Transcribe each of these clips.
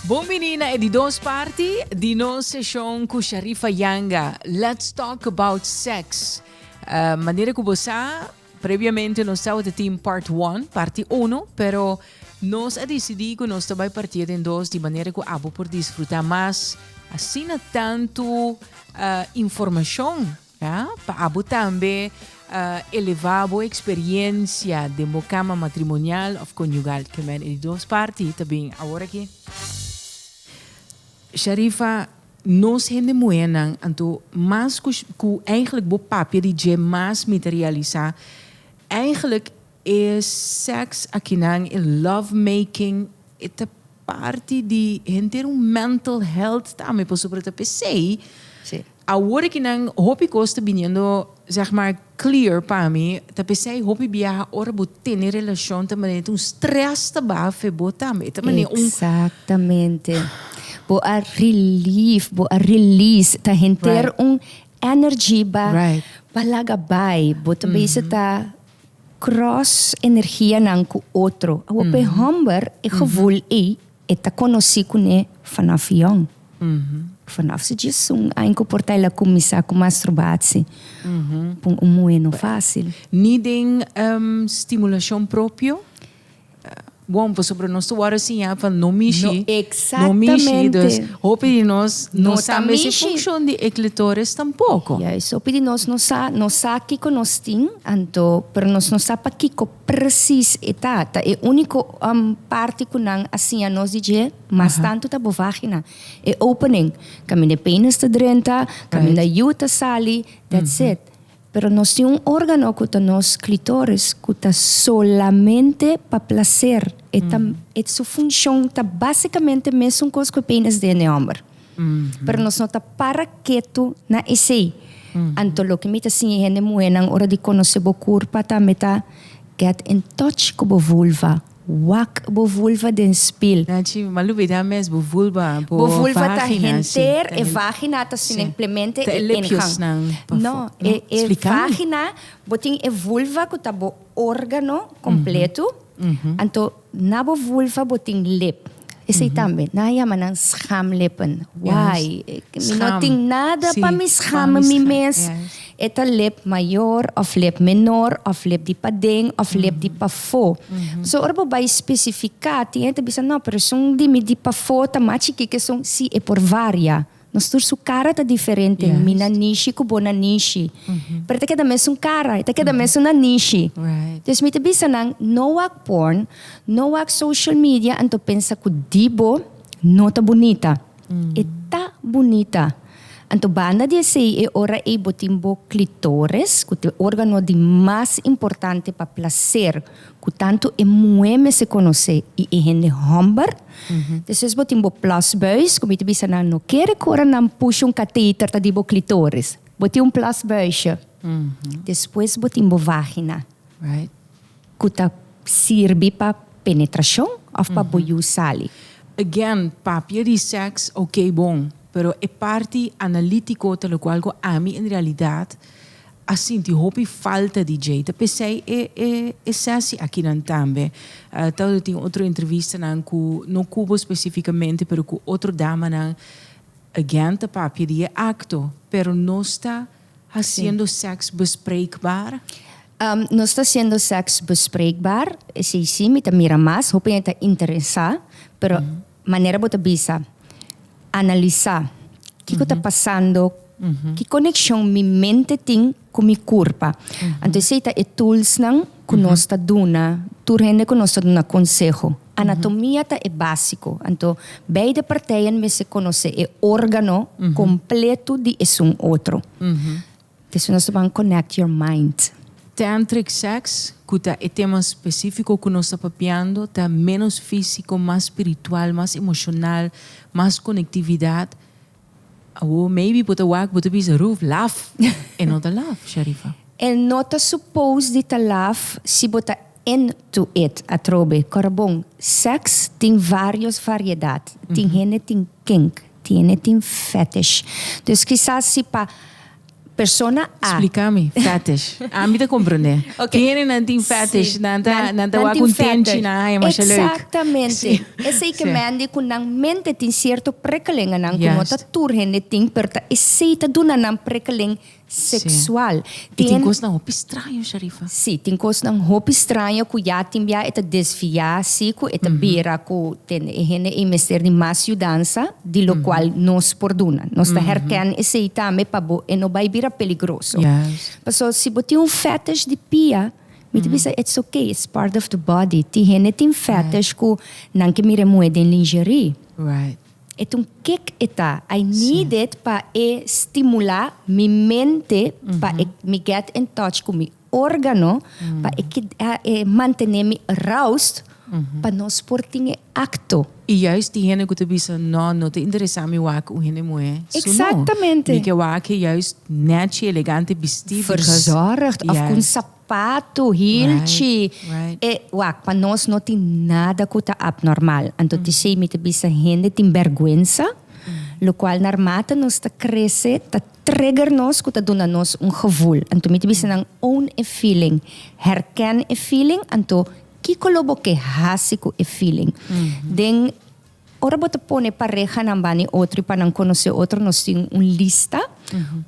Bon bini na e di dos parti di nos seshon ku Sharifa Yanga, Let's Talk About Sex. Manera ku bo sa, Previamente nos tabata tin Part One, Parti Uno, pero nos a decidí cu nos ta bay partié den dos di manera cu abo por disfrutá mas asina tantu informacion, ya, pa abo tambe elevá bo experiencia den bo cama matrimonial of conyugal. Kemèn e di dos parti ta bin awor aki. Sharifa, Nos hende muhénan, anto mas ku ku eigenlijk bo papia di dje mas mi ta realisá eigenlijk e sèks akinan, e love making e ta parti di henter un mental health tambe pasobra ta p'esei awor aki nan hopi kos ta biniendo zeg maar Clear pa mi ta pesey hopi biaha ora bo tene relacion ta manera tin un stress ta baha fe bo tambe e ta manera un. Exactamente bo a relieve bo a release ta henter un energy ba ba laga bay bo ta bezig ta cross energia nan cu otro awor pa e homber e gevoel ey E ta conoci cune fanaf yong. Fanaf su djies un aña cu por ta el a cuminsa cu masturbaci. Pon un muhe no facil. Ni den stimulacion propio. Bon, pasobra nos ta worde siña pa no mishi. No, exactamente. No mishi, dus hopi di nos no sa mes e funcion di e clitoris tampoco. Juist, hopi di nos no sa, nos sa kico nos tin, anto, pero nos no sa pa kico. Presis e ta, ta e úniko parti ku nan a siña nos di dje, mas tantu ta bo vágina, e opening kaminda e penis ta drenta, kaminda yu ta sali, that's it. Pero nos tin un órgano ku ta nos klitoris ku ta solamente pa plaser, e ta, e su funshon ta básikamente mesun kos ku e penis den e hòmber. Pero nos no ta para ketu na esei. Anto loke mi ta siña e hende muhénan ora di konosé bo kurpa tambe ta, get in touch ku bo vulva, wak bo vulva den spil. Na chi, m'a lubidá mes bo vulva, bo vagina. Bo vulva ta henter, e vagina ta simplemente e ingang. No, e vagina, bo tin e vulva ku ta bo órgano kompletu, anto. Na bo vulva bo tin lip. Esei tambe. Nan a yama nan schamlippen. Why? Mi no tin nada pa mi scham mi mes. E ta lip mayor of lip menor of lip di paden of lip di pafo. So ora bo bai specifica tin e ta bisa no pero esun di mi di pafo ta mas chiki ke esun. Si e por varia. Nos tur su cara ta diferente. Yes. Mi na Nishi cu bo na Nishi. Mm -hmm. Pero ta keda mesun cara, ta keda mm -hmm. mesun na Nishi. Right. Dus mi ta bisa nan, no wak porn, no wak social media, anto pensa cu di bo no ta bunita. Mm. E ta bunita. Anto banda di esey, e ora ey bo tin bo clitoris, cu te organo di mas importante pa placer. Ku tantu e muhé mester konosé i e hende hòmber. Despues bo tin bo plasbuis, ku mi ta bisa nan no kere ku ora nan pusha un kateter ta di bo klitoris. Bo tin un plasbuishe. Despues bo tin bo vagina. Right. Ku ta sirbi pa penetrashon òf pa bo yu sali. Again, papia di sèks, oké bon. Pero e parti analítiko ta lokual ku ami en realidat. a sinti hopi falta di djei ta pesei e e e sesi akinan tambe ta lo tin otro entrevistanan ku no kubo spesifikamente pero ku otro damanan again ta papia di e akto pero nos ta hasiendo seks bespreekbaar? Nos ta hasiendo seks bespreekbaar esei si mi ta mira mas hopi hende ta interesá pero Manera bo ta bisa, analisa kiko ta pasando, ki konekshon mi mente tin ku mi kurpa. Anto esei ta e toolsnan ku nos ta duna tur hende ku nos ta duna konseho. Anatomia ta e básiko, anto beide parteien mester konosé e órgano kompletu di esun otro. Esei nos ta ban connect your mind. Tantric sex, cu ta e tema specifico cu nos ta papiando, ta menos fisico, mas spiritual, mas emocional, mas conectividad. Awor maybe bo ta wak, bo ta bisa, Ruth, laf! E no ta laf, Sharifa. E no ta suppose di ta laf si bo ta into it atrobe. Corabon, sex tin varios variedad. Tin hende tin kink. Tiene tin fetish. Dus kisas si pa persona a. Splika mi fetish. Ami ta komprende. Tiene nan tin fetish. Nan ta nan ta wak un tenchi nan haya masha leuk. Exactamente. Esei ke mende ku nan mente tin sierto prekelinganan ku no ta tur hende tin pero ta esei ta duna nan prekelen sexual. Y tin cosnan hopi straño Sharifa. Si, tin cosnan hopi straño cu ya tin bia e ta desvia si cu e ta bira cu tende e hende ey mester di mas yudansa di locual nos por duna. Nos ta herken esey tambe pa bo e no bay bira peligroso. Paso si bo tin un fetish di pia mi ta bisa it's ok, it's part of the body. Tin hende tin fetish cu nan ke mira e muhe den lingerie. Eton kek e ta? I need it pa e stimula mi mente pa e mi get in touch ku mi organo pa e keda e mantene mi aroused pa nos por tin e akto. I juist di hende ku ta bisa no no ta interesa mi wak un hende muhé su no mi ke wak e juist netchi elegante bistí because Verzorgd of ku un. Patu, hilchi, e wak pa nos no tin nada ku ta abnormal. Anto tisei mi ta bisa hende tin bèrgwensa, lo kual na mata nos ta krese ta trigger nos ku ta duna nos un gevul. Anto mi ta bisa nan own e feeling, herken e feeling, anto kiko lo bo ke hasi ku e feeling. Den, ora bo ta pone parehanan bani otro i pa nan konosé otro nos tin un lista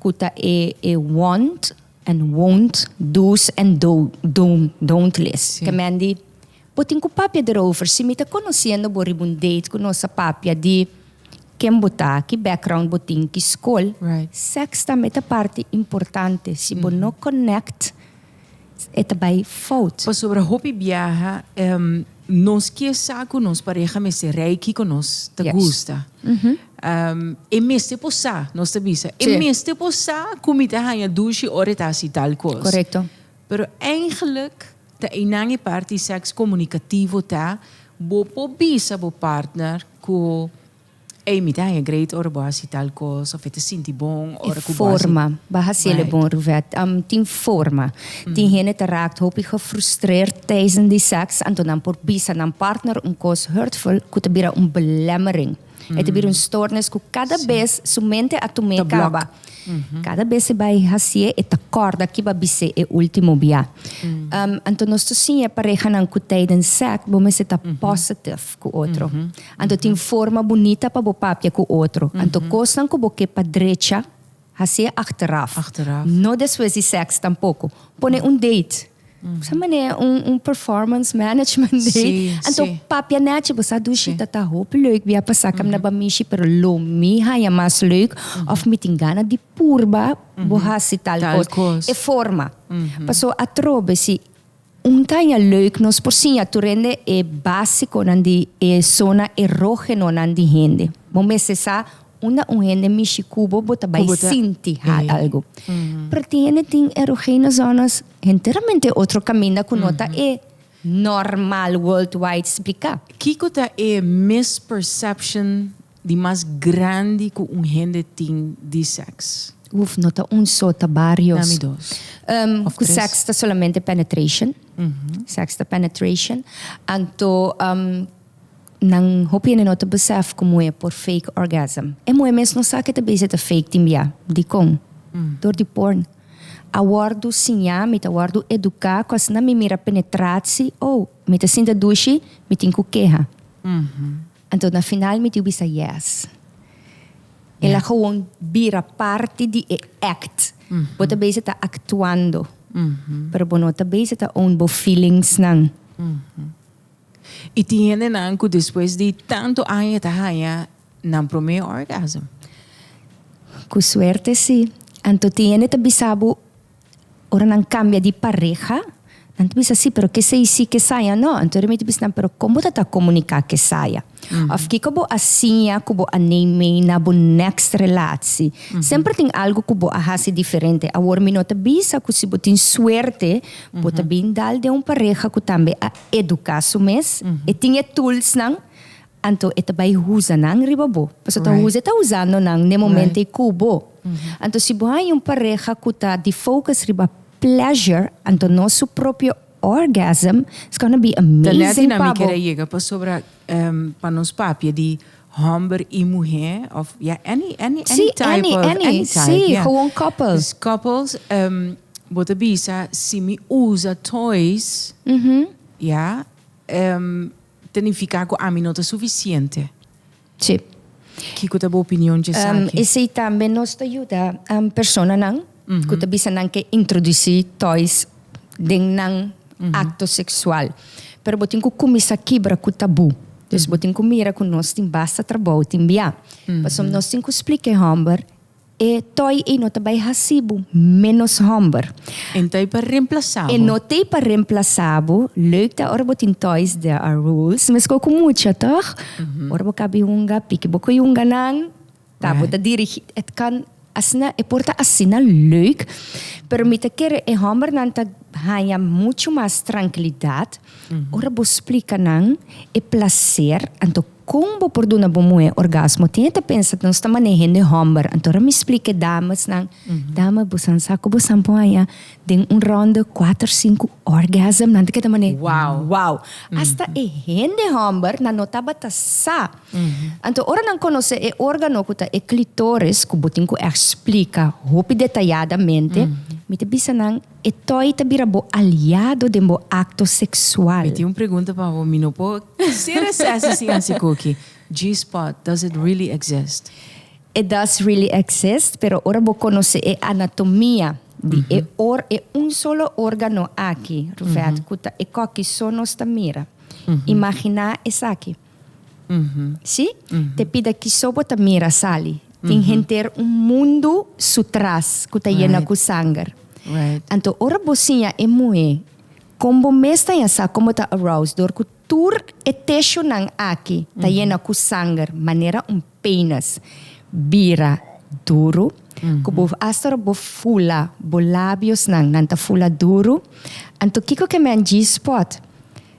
ku ta e want, En wont, do's en don't list. Ke men di, Bo tin ku papia derover. Si mi ta konosiendo bo riba un date ku nos a papia di ken bo ta, ki background bo tin, ki skol. Sèks tambe ta parti importante. Si bo no connect, e ta bai fout. Pasobra hopi biaha nos ke sa ku nos pareha mester reiki ku nos ta gusta. E mester por sa, nos ta bisa. E mester por sa cu mi ta haña dushi ora e ta haci tal cos. Correcto. Pero eigenlijk ta einan e parti di seks comunicativo ta bo por bisa bo partner cu ey mi ta haña great ora bo haci tal cos of e ta sinti bon ora cu bo haci. E forma bo hacel e bon Ruvet. Tin forma. Tin hende ta raakt hopi gefrustreerd tijdens di seks anto nan por bisa nan partner un cos hurtful cu ta bira un belemmering. E ta bira un stoornis ku kada bes su mente a tum'é kaba. Kada bes e bai hasié e ta kòrda kiba bis'é e último bia. Anto nos ta siña parehanan ku tijden sèk bo mester ta pòsitif ku otro. Anto tin forma bunita pa bo papia ku otro. Anto kosnan ku bo ke pa drecha. Hasié achteraf. Achteraf. No despues di seks tampoco. Pone un date. Bo sa manera un performance management date. Sí, sí. Anto papia nechi, bo sa dushi ta ta hopi leuk bia pa saka mi na ba mishi pero lo mi haña mas leuk of mi tin gana di purba bo hasi tal cos. Tal cos. E forma. Paso atrobe si. Un caña leuk nos por siña tur rende e basiconan di e zona erogenonan di hende. Bo mester sa unda un hende mishi cu bo, bo ta bay sinti hal algo. Pero tin hende tin erogeno zonas enteramente otro caminda cu no ta e normal worldwide splica. Kico ta e misperception? Di mas grandi ku un hende tin di sèks. Uf, no ta un so, ta barios. Nami dos òf tres. Ku sèks ta solamente penetration. Sèks ta penetration. Anto nan hopi hende no ta besèf ku muhé por fake orgasm. E muhé mes no sa ke ta bese ta fake tin bia. Dikon? Dor di porn. A wòrdu siñá, mi ta wòrdu eduká ku asina mi mira penetratsi, oh, mi ta sinti a dushi, mi tin ku keha. Anto na final mi tiu bisa yes. El a gewoon bira parti di e act. Bo ta bezig ta actuando. Pero bo no ta bezig ta own bo feelingsnan. I tin hendenan ku despues di tantu aña e ta haña nan promé orgasm? Ku suerte si. Anto tin hende ta bisa bo. Ora nan cambia di pareha, nan ta bisa si, pero kesey si, kesey a no. Anto mi ta bisa nan, pero con bo ta ta comunica kesey a? Of kiko bo a siña cu bo a neem mee na bo next relatie? Semper tin algo cu bo a haci diferente. Awor mi no ta bisa cu si bo tin suerte bo ta bin dal den un pareha cu tambe a educa su mes, e tin e toolsnan, Anto e ta bai huza nan riba bo. Paso ta huza e ta huzando nan n'e momento ei ku bo. Anto si bo haña un pareha ku ta di focus riba pleasure, anto no su propio orgasm, it's gonna be amazing pa bo. Pasobra pa nos papia di hòmber i muhé of ya any any any type of any type. Si, any, any, si, gewoon koppel. Dus koppels bo ta bisa si mi uza toys ya Ta nifiká ku ami no ta sufisiente. Sí. Kiko ta bo opinion dje esaki? Esei tambe nos ta yuda personanan ku ta bisa nan ke introdusí toys den nan akto seksual. Pero bo tin ku kuminsá kibra ku tabú. Dus bo tin ku mira ku nos tin basta trabou tin biá. Pasobra nos tin ku splika e hòmber. E toi ei no ta bai hasi bo ménos hòmber. E no ta ei pa remplasá bo. E no ta ei pa remplasá bo. Leuk ta ora bo tin toys, there are rules. Meskor ku mucha, tòg? Ora bo kabi hunga, piki bo ku e hunganan. Ta bo ta dirigí. Et kan asina, e por ta asina leuk, pero mi ta kere e hòmbernan ta haña muchu mas trankilidat ora bo splika nan e plaser. Anto Con bo por duna bo muhe orgasmo? Tin e ta pensa nos ta mane hende homber, anto ora mi splica e dames nan, dame bo san sa cu bo san por haya den un ronde cuater cinco orgasm nan ta keda mane wow! Hasta e hende homber nan no tabata sa. Anto ora nan conoce e organo cu ta e clitoris, cu bo tin cu explica hopi detayadamente, mi ta bisa nan, E toy ta bira bo aliado den bo acto sexual. Mi tin un pregunta pa bo, mi no por cere sesi sin haci cookie. G-spot, does it really exist? E does really exist, pero ora bo conoce e anatomia di e or e un solo organo aki, Ruvet, cu ta e cookie so nos ta mira. Imagina esaki. Si? Te pida kiso bo ta mira sali. Tin henter un mundu su tras ku ta yena ku sanger. Anto ora bo siña e muhé kon bo mes ta ña sa kon bo ta aroused dor ku tur e teshunan aki ta yena ku sanger manera un penis bira duru ku bo asta ora bo fula bo labiosnan nan ta fula duru anto kiko ke men G-spot?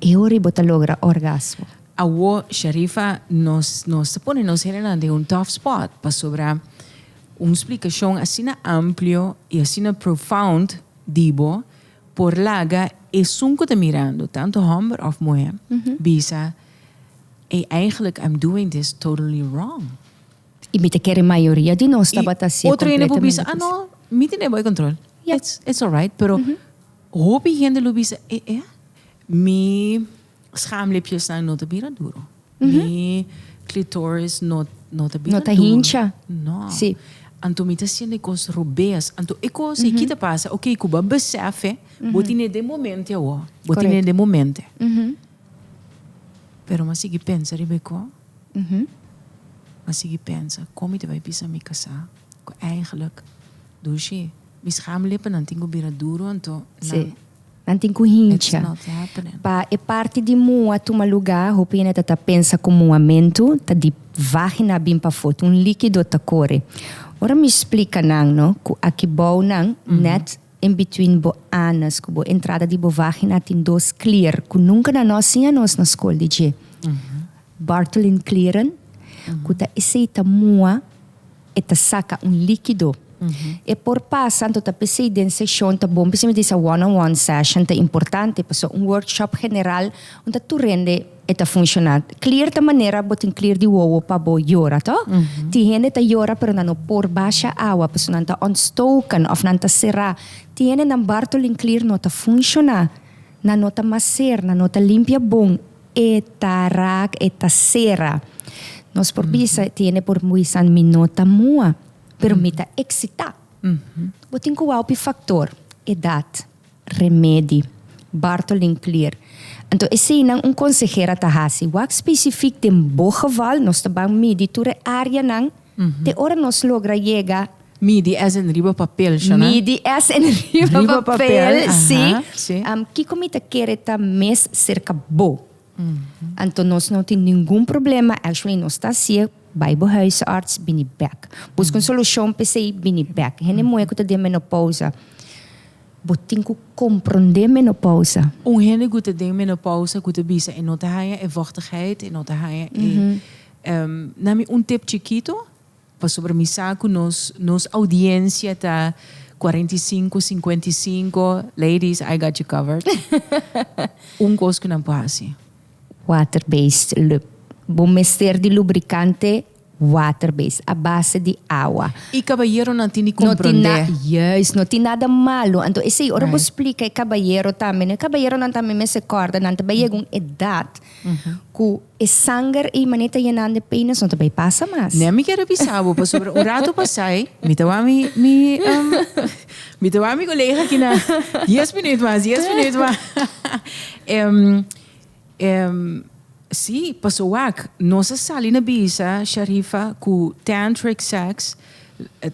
E ora i bo ta logra orgasmo. Awo Sharifa nos nos ta pone nos hendenan den un tough spot pasobra un splikashon asina amplio i asina profound di bo por laga esun ku ta mirando tantu hòmber òf muhé bisa ey eigenlijk I'm doing this totally wrong. Y mi ta kere mayoria di nos tabata así completamente. Y otro hende por bisa, ah no, mi tene bo e control. Ya. It's, it's alright, pero hopi hende lo bisa, eh, eh, ah, mi schaamlippjesnan no ta bira duro. Mi clitoris no, no ta bira duro. No ta hincha. No. Sí. Anto mi ta siente e cos robees. Anto e cos aki ta pasa, ok, cu bo a besefe, bo tene den momente awo. Bo tene den momente. Pero mi a sigui pensa riba e cos. A sigui pensa, Kon mi ta bai bisa mi kasá ku eigelijk Dushi? Mi schaamlippennan tin ku bira duru, anto nan, nan tin ku hincha. It's not happening. Pa e parti di mua tuma lugá, hopi hende ta ta pensa ku muamentu ta di vágina bin pafó, ta un líkido ta kore. Ora mi splika nan, no, ku akibou nan nèt. In between bo anus ku bo entrada di bo vagina tin dos klier ku nunka nan no siña nos na skol di dje. Bartholin klieren ku ta esei ta mua e ta saka un likido. E por pasa anto ta p'esei den seshon ta bon p'esei mi di sa one on one session ta importante paso un workshop general un ta tur hende E ta funciona. Clear ta manera bo tin clear di wowo pa bo yora to. Tin hende ta yora pero nan no por basha awa pasobra nan ta ontstoken of nan ta cera. Tin hende nan bartolin clear no ta funciona. Nan no ta macer, nan no ta limpia bon. E ta raak, e ta cera. Nos por bisa, tin hende por bisa mi no ta moa pero mi ta excita. Bo tin cu wou pi factor, edad. Remedi, Bartolin Clear. Anto eseinan un konseher a ta hasi. Wak spesifik den bo geval nos ta ban midi tur e áreanan te ora nos logra yega. Midi es en riba papel, Shona? Midi es en riba papel, si. Kiko mi ta kere ta mes serka bo? Anto nos no tin ningun problema, actually nos ta hacié, bai bo huisarts, bini bek. Busca un solucion p'esei, bini bek. Hende muhé cu ta den menopausa, bo tin cu comprendé menopausa. Un hende cu ta den menopausa cu ta bisa, e no ta haya e vochtigheid, e no ta haya e, na mi un tip chikito. Pasobra mi sa ku nos nos oudiensia ta cuarenta y cinco, cincuenta y cinco, ladies I got you covered. Un kos ku nan por hasi. Water based lub. Bo mester di lubrikante water based, a base di awa. I kabayeronan tin di komprondé. Juist, no tin nada malu. Anto esei ora bo splika e kabayero tambe, e kabayeronan tambe mester kòrda nan ta bai yega un edat. cu e sanger ey mane ta yenando e peines no ta bay pasa mas. Nea mi kere bisa bo pasobra un rato pasai mi ta wak mi mi mi ta wak mi colega aki na dies minuut mas dies minuut mas si paso wak nos a sali na bisa Sharifa cu tantric sex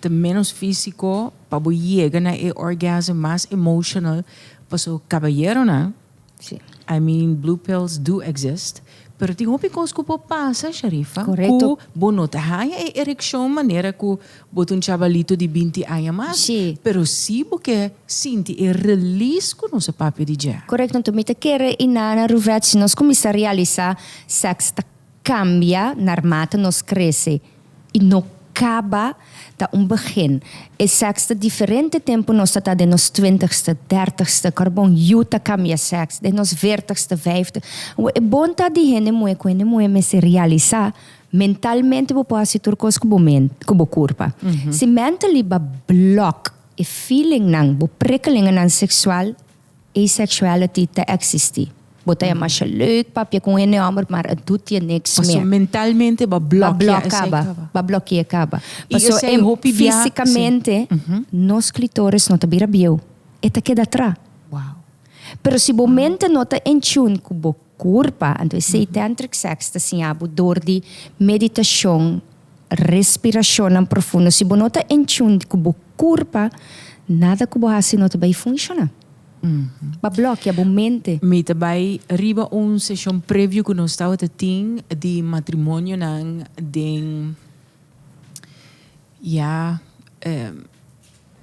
ta menos fisico pa bo yega na e orgasm mas emotional paso caballeronan Si. I mean blue pills do exist, pero tin hopi cos cu por pasa, Sharifa, cu bo no ta haya e ereccion manera cu bo ta un chabalito di binti aña mas, pero si bo ke sinti e release cu nos a papia di dje. Correcto, enton mi ta kere i na na Ruvets nos cuminsa realisa sex ta. Cambia naar mate nos crece y no caba ta un begin. E seks ta diferente tempo nos ta ta den nos twintigste, dertigste, carbon yu ta cambia seks den nos veertigste, vijftig. Awor e bon ta di hende muhe cu hende muhe mester realiza mentalmente bo por haci tur cos cu bo mente, cu bo curpa. Si mentally ba block e feelingnan, bo prikkelingennan seksual Asexuality ta existi. Bo ta e masha leuk papia cu un hende homber maar e doet je niks meer. Paso mentalmente ba blokia esey caba. Ba blokea caba. Ba blokea caba. Y esey hopi bia. Paso en fisicamente nos clitoris no ta bira bieu. E ta keda atra. Wow. Pero si bo mente no ta in tune cu bo. Kurpa, anto esei tantric sex ta siña bo dor di meditashon, respirashonnan profundo. Si bo no ta en tune ku bo kurpa, nada ku bo hasi no ta bai funshoná. Bo a blokia bo mente. Mi ta bai riba un seshon preview ku nos tabata tin di matrimonionan den ya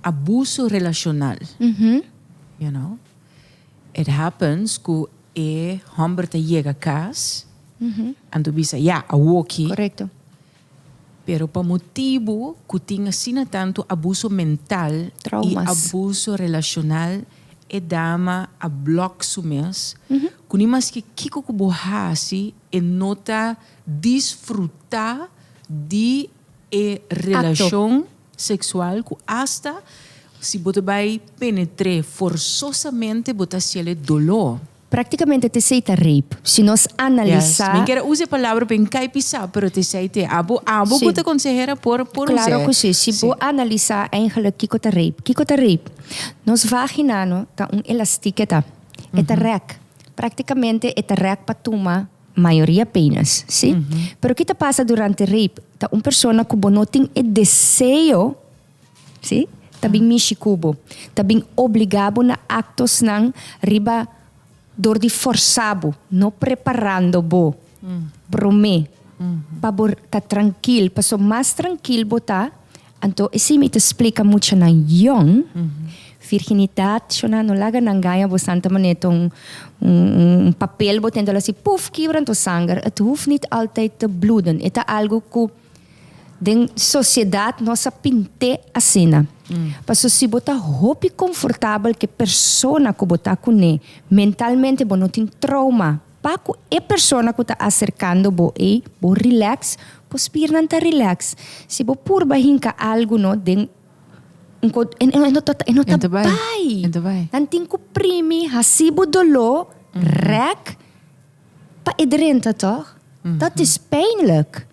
abuso relashonal, you know. It happens cu e homber ta yega cas, anto bisa, ya, awoki. Correcto. Pero pa motibu cu tin asina tanto abuso mental Traumas. y abuso relacional, e dama a block su mes, cu ni maske kico cu bo haci, e no ta disfruta di e relacion. sexual cu hasta si bo ta bay penetr'e forzosamente bo ta siel'e dolor. Practicamente te esey ta rape, si nos analisa. Min quier a usa e palabra pa n'cay pisa pero te esey te abo abo cu ta consehera por por usa. Claro cu si, si bo analisa eigenlijk kico ta rape, kico ta rape? Nos vagina no ta un elastic e ta, e ta rek, practicamente e ta rek pa tuma. Mayoria penas, si. Pero ki ta pasa durante rape? Ta un persona ku bo no tin e deseo, si, ta bin mishi ku bo, ta bin obligá bo na aktosnan riba dor di forsá bo, no preparando bo promé pa bo ta trankil, pasobra mas trankil bo ta, Anto esei mi ta splica muchanan young, virginidad shona no laga nan gaña bo santa manera ta un un papel bo tenta lo haci puf kibra anto sanger, et hoeft niet altijd te bloeden, e ta algo cu den sociedad nos a pinte asina, pasobra si bo ta hopi confortabel cu e persona cu bo ta cune mentalmente bo no tin trauma. Pa cu e persona cu ta acercando bo ey bo relax, bo spiernan ta relax. Si bo purba hinca algo no den un co, e no ta, e no ta bay. E no ta bay. Nan tin cu primi, haci bo dolo, rek, pa e drenta toch? Dat is pijnlijk.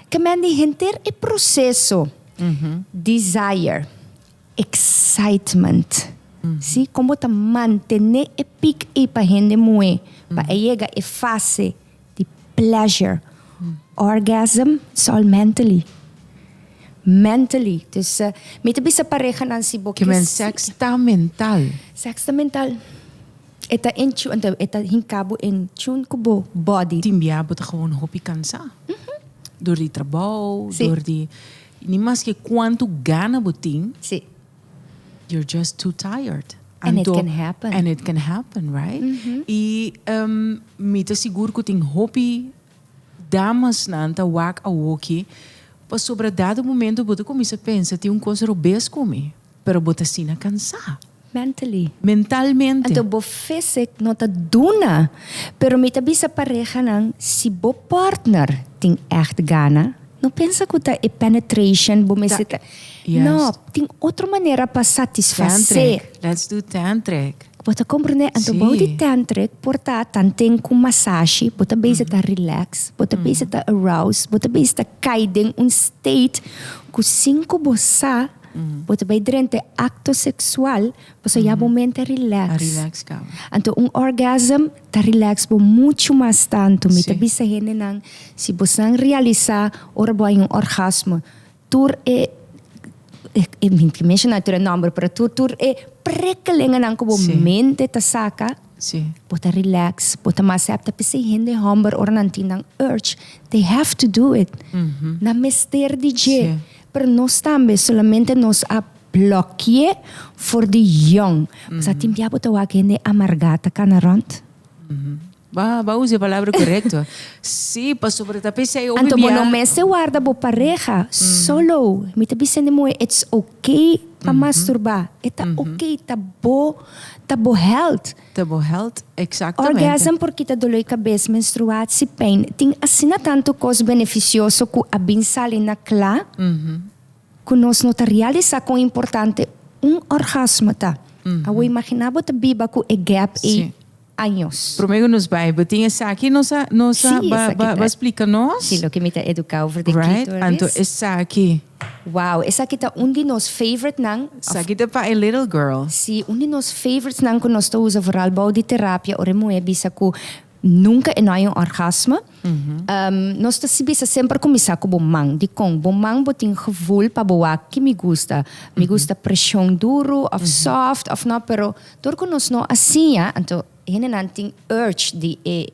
Caminda henter e proceso. Desire. Excitement. Sí, kon bo ta mantené e pic ey pa hende muhé pa e yega e fase di pleasure, orgasm sol mentally. Mentally. Dus mi ta bisa parehanan si bo. Ke men sex ta mental. Sex ta mental. E ta in tune, ento e ta hinca bo in tune cu bo body. Tin bia bo ta gewoon hopi cansa. Door di trabao, door di. Ni maske cuantu gana bo tin. Sí. You're just too tired. And it can happen. And it can happen, right? Y mi ta sigur cu tin hopi damasnan ta wak awoki pasobra dado momento bo ta cuminsa pensa tin un cos robes cu mi. Pero bo ta asina cansá. Mentally. Mentalmente. Anto bo fysic no ta duna. Pero mi ta bisa parehanan si bo partner tin echt gana, no pensa cu ta e penetration bo mester ta, no, tin otro manera pa satisfacé. Tantric, let's do tantric. Bo ta comprende? Anto bou di tantric por ta tanten cu masashi, bo ta bezig ta relax, bo ta bezig ta arouse, bo ta bezig ta cay den un state cu sin cu bo sa. Bo ta bai drente acto sexual, paso ya bo mente a relax. A relax caba. Anto un orgasm ta relax bo mucho mas tanto. Mi ta bisa hendenan, si bosan realisa ora bo hay un orgasmo, tur e, mi ta menshoná tur e nomber, pero tur tur e prikkelingennan ku bo mente ta saka, bo ta relax, bo ta mas hèp. Ta p'esei hende hòmber ora nan tin nan urge, they have to do it. Nan mester di dje. Pero nos tambe solamente nos a blòkié for di yòn. Mas a tin bia bo ta wak hende amargá ta kana rònt? Ba ba usa e palabra korekto. Sí, pasobra ta p'esei hopi bia. Anto bo no mester warda bo pareha solo. Mi ta bisa hende muhé it's okay pa masturbá. E ta okay, ta bo ta bo health. te bo health exactamente. Orgasm por kita doloi cabes, menstruatie pain, tin asina tanto cos beneficioso cu a bin sali na cla cu nos no ta realisa con importante un orgasmo ta. Awo imagina bo ta biba cu e gap ey Sí. años. Prome cu nos bay bo tin esaki nos a nos a Sí, ba esaki ba ta- ba splica nos. Sí, loke mi ta educa over de right clitoris. anto esaki. Wow, esaki ta un di nos favorite nan. Saki ta pa e little girl. Sí, un di nos favorites nan cu nos ta usa vooral bou di terapia ora e muher bisa cu nunca e no hay un orgasmo. Ehm, nos ta si bisa semper cuminsa cu bo man. Dicon? Bo man bo tin gevoel pa bo wak ki mi gusta. Mi gusta presion duro of soft of no, pero dor cu nos no a siña, anto hendenan tin urge di e.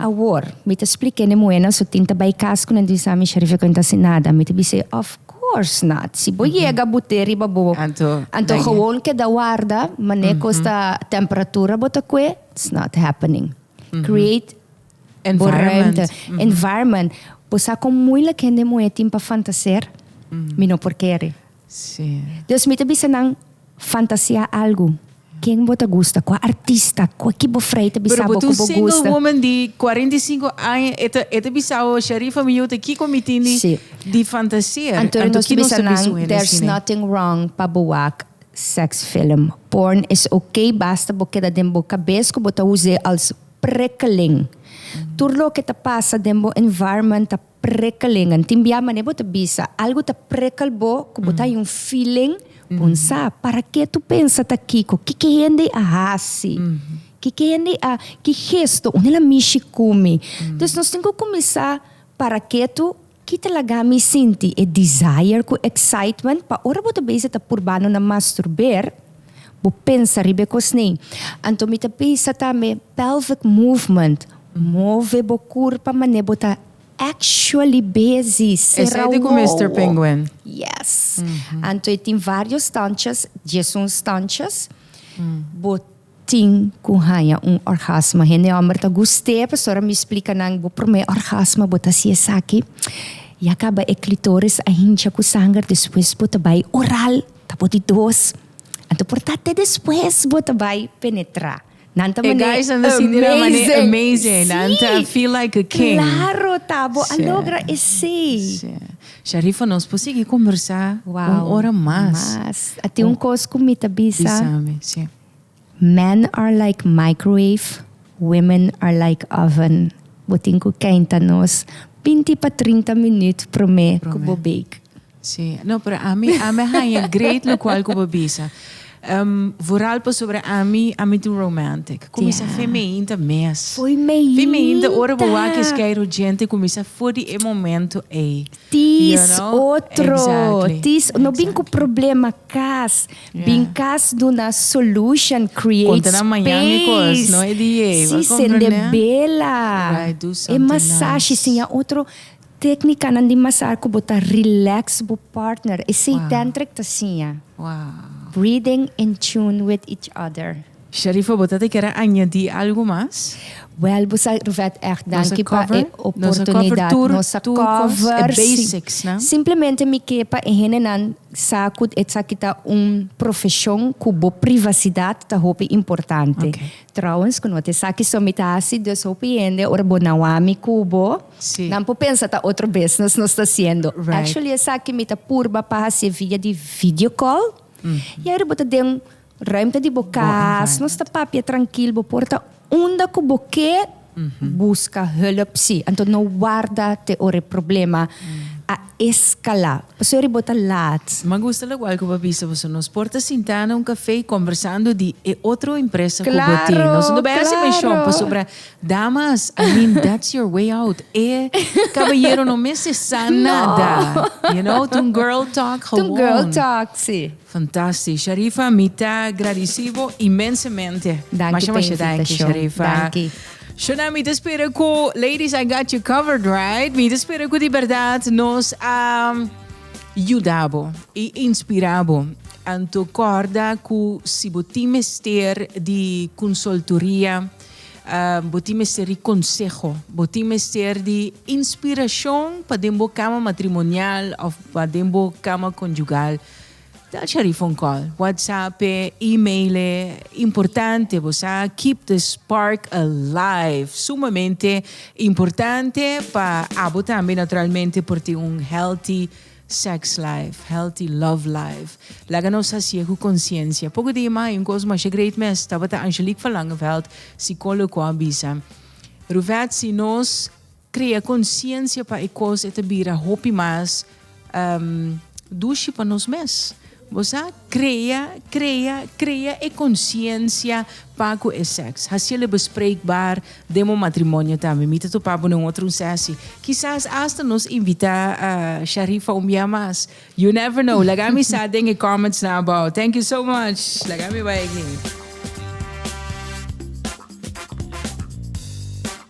Awor, mi ta spliké n'e muhénan su tin ta bai kas ku nan tin sa mi sheriff e ku enta sin nada. Mi ta bis'é, Of course not! Si bo yega but'é riba bo, Anto anto gewoon keda warda manera ku esta temperatura bo ta kue, it's not happening. Create bo ruimte, environment. Bo sa kon muilik hende muhé tin pa fantaseer? Mi no por kere. Sí. Dus mi ta bisa nan fantasia algu. Ken bo ta gusta? Kua artista? Kua ki bo frei ta bisa bo ku bo gusta? Pero bo ta un single woman di kuarenta i sinku aña, e ta e ta bisa bo, Sharifa mi yu ta kiko mi tin di Sí. di fantasia? Anto Anto nos ta ki nos bisa ta nan bisa un hende there's asina? nothing wrong pa bo wak sex film. Porn is ok basta bo keda den bo kabes ku bo ta us'é als prikkeling. Tur loke ta pasa den bo environment ta Prikkelingan. Tin bia manera bo ta bisa algu ta prikkel bo ku bo ta haña un feeling bon sa. Parake tu pensa ta kiko? Kiko e hende a hasi? Kiko e hende a ki gesto? Unda el a mishi ku mi? Entonces nos tin ku kuminsá parake tu ki ta laga mi sinti e desire ku excitement pa ora bo ta bese ta purbando na masturber. Bo pensa riba e kos nei. Anto mi ta bisa tambe pelvic movement, move bo kurpa manera bo ta actually bezi sera wowo. Esei di ku Mister Penguin. Yes. Anto e tin varios stanchas, diesun stanchas, bo tin ku haña un orgasmo. Hende hòmber ta gust'é, pasobra ora mi splika nan bo promé orgasmo bo ta hasi esaki, ya kaba e klitoris a hincha ku sanger, despues bo ta bai oral. Ta por di dos. Anto por ta te despues bo ta bai penetra. Nan ta mane guys nan amazing. Di na mane amazing. Nan ta feel like a king. Claro ta bo a logra esey. Sí. Sharifa nos por sigui conversa wow. un ora mas. Mas. A tin un cos cu mi ta bisa. Bisa mi, sí. Men are like microwave, women are like oven. Bo tin cu kenta nos binti pa trinta minuut prome cu bo bake. Sí, no, pero ami, ami haña great locual cu bo bisa. Um, vooral pasobra ami, ami ta romantic. Cuminsa fooi meinta mes. Fooi meinta! Fooi meinta ora bo wak is kei rugente cuminsa foor di e momento ei. Tis otro! Exactly. Tis, no bin cu problema cas. Bin cas duna solution create space. Conta na mañan e cos, no e di yey. Si sende bela e masashi siña otro tecnicanan di masar cu bo ta relax bo partner esey tantric ta siña breathing in tune with each other. Sharifa bo ta ta kere añadi algu mas? Wel bo sa Ruvet echt danki pa e oportunidad nos a cover si simplemente mi ke pa e hendenan sa ku esaki ta un profesion ku bo privacidad ta hopi importante trouwens ku no ta esaki so mi ta hasi dus hopi hende ora bo na wami ku bo nan por pensa ta otro business nos ta hasiendo actually esaki mi ta purba pa hasié via di video call y aido bo ta den Ruimte di bo kas. Nos ta papia trankil bo por ta unda ku bo ke buska hulp si. Anto no warda te ora e problema a eskalá pasobra bo ta lat. Ma gusta lo kual ku bo a bisa boso. Nos por ta sintá na un kafé kombersando di e otro empresa ku bo tin. Nos no bai hasi menshon pasobra damas, I mean that's your way out. E kabayero no mester sa nada. You know? Tin un girl talk, gewoon. Tin un girl talk, si. Fantastisch Sharifa, mi ta gradeci bo inmensemente. Danki Masha masha danki p'invitashon. Sharifa. Danki. Shona mi ta spera cu ladies I got you covered right? Mi ta spera cu di berdad nos a yuda bo y inspira bo. Anto corda cu si bo tin mester di consultoria, bo tin mester di conseho, bo tin mester di inspiracion pa den bo cama matrimonial of pa den bo cama conjugal, Tel cha di phone call, WhatsApp e email e importante bo sa, keep the spark alive sumamente importante pa abo tambe naturalmente por tin un healthy sex life, healthy love life. Laga nos hasi'e cu conciencia. Poco di ima hay un cos masha great mes, tabata Angelique Verlangenveld, psicologo cu a bisa, Ruvet si nos Krea konsiensia pa e kos e ta bira hopi mas dushi pa nos mes. Bo sa, krea, krea, krea e konsiensia pa ku e sèks. Hasiel e bespreekbaar den bo matrimonio tambe. Mi ta topa bo den otro un sèsi. Kisas asta nos invitá Sharifa un bia mas. You never know. Laga mi sa den e comments nan abou. Thank you so much. Laga mi bai aki.